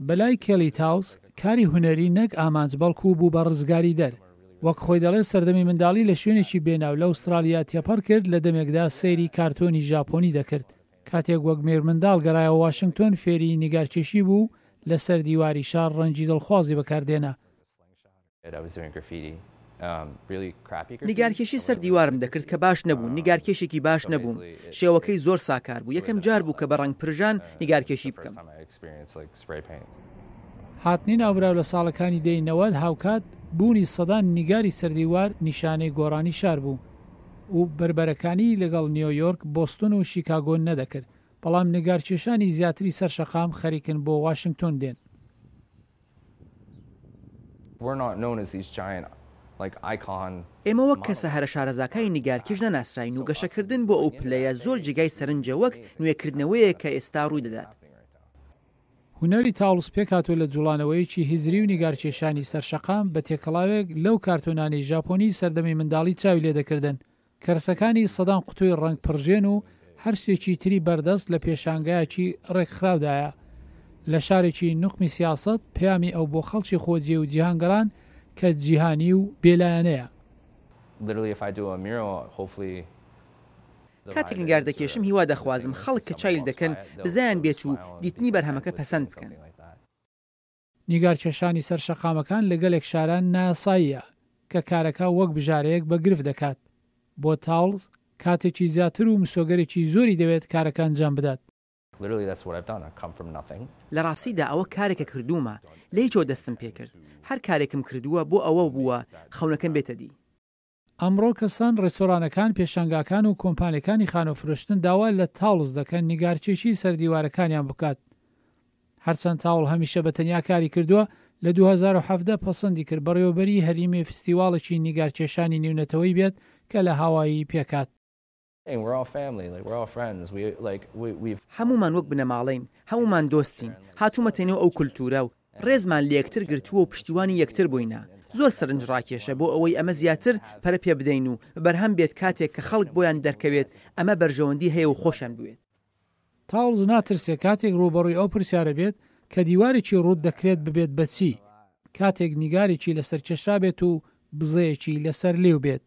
بەلای کێلی تاوس کاری هونەری نەک ئامانج بەڵکو بوو بە ڕزگاریدەر. وەک خۆی دەڵێت سەردەمی منداڵی لە شوێنێکی بێناو لە ئوستراڵیا تێپەڕ کرد لە دەمێکدا سەیری کارتۆنی ژاپۆنی دەکرد. کاتێک وەک مێرمنداڵ گەڕایەوە واشنگتۆن فێری نیگارکێشی بوو و لەسەر دیواری شار ڕەنگی دڵخوازی بەکاردێنا. نیگارکێشی سەر دیوارم دەکرد کە باش نەبوو، نیگارکێشێکی باش نەبووم، شێوەکەی زۆر ساکار بوو، یەکەم جار بوو کە بە ڕەنگ پرژان نیگارکێشی بکەم. هاتنی ناوبراو لە ساڵەکانی دەی نەوەد هاوکات بوونی سەدان نیگاری سەر دیوار نیشانەی گۆڕانی شار بوو و بەربەرەکانی لەگەڵ نیۆیۆرک، بۆستون و شیکاگۆ نەدەکرد، بەڵام نیگارکێشانی زیاتری سەر شەقام خەریکن بۆ واشنگتۆن دێن. ئێمە وەک کەسە هەرە شارەزاکانی نیگارکێش نەناسراین و گەشەکردن بۆ ئەو پلەیە زۆر جێگای سەرنجە وەک نوێکردنەوەیەک کە ئێستا ڕووی دەدات. هونەری تاوڵز پێکهاتووە لە جووڵانەوەیەکی هزری و نیگارکێشانی سەرشەقام بە تێکەڵاوێک لەو کارتۆنانەی ژاپۆنی سەردەمی منداڵی چاوی لێ دەکردن کەرسەکانی سەدان قوتووی ڕەنگ پڕژێن و هەر شتێکی تری بەردەست لە پێشانگایەکی ڕێکخراودایە لە شارێکی نوقمی سیاسەت، پەیامی ئەو بۆ خەڵکی خۆجێ و جیهانگەڕان کە جیهانی و بێلایەنەیە. کاتێک نیگار دەکێشم هیوا دەخوازم خەڵک کە چایل دەکەن بزیان بێت و دیتنی بەرهەمەکە پەسەند بکەن. نیگار کێشانی سەر شەقامەکان لە گەلێک شارا نایاساییە، کە کارەکە وەک بژارەیەک بە گرفت دەکات بۆ تاوڵز، کاتێکی زیاتر و مسۆگەرێکی زۆری دەوێت کارەکە ئەنجام بدات. لە ڕاستیدا ئەوە کارێکە کردوومە، لە هیچەوە دەستم پێکرد، هەر کارێکم کردووە بۆ ئەوە بووە خەونەکەم بێتە دی. ئەمڕۆ کەسان، ڕێستۆرانەکان، پێشانگاکان و کۆمپانیەکانی خانوو فرۆشتن داوا لە تاوڵز دەکەن نیگارکێشی سەر دیوارەکانیان بکات. هەرچەند تاوڵ هەمیشە بە تەنیا کاری کردووە، لە دوو هەزار و حەڤدە پەسەندی کرد بەڕێوەبەریی هەریمی فستیواڵێکی نیگارکێشانی نیونەتەوەی بێت کە لە هاوایی پێکات. هەموومان وەک بنەماڵەین، هەموومان دۆستین، هاتوومەتە نێو ئەو کولتوورە و ڕێزمان لە یەکتر گرتووە و پشتیوانی یەکتر بووینە. زۆر سەرنجڕاکێشە بۆ ئەوەی ئەمە زیاتر پەرە پێ بدەین و بەرهەم بێت کاتێک کە خەڵک بۆیان دەرکەوێت ئەمە بەرژەوەندی هەیە و خۆشیان بوێت. تاڵز ناترسێت کاتێک ڕووبەڕووی ئەو پرسیارە بێت کە دیوارێکی ڕووت دەکرێت ببێت بە چی، کاتێک نیگارێکی لەسەر کێشرابێت و بزەیەکی لەسەر لیو بێت.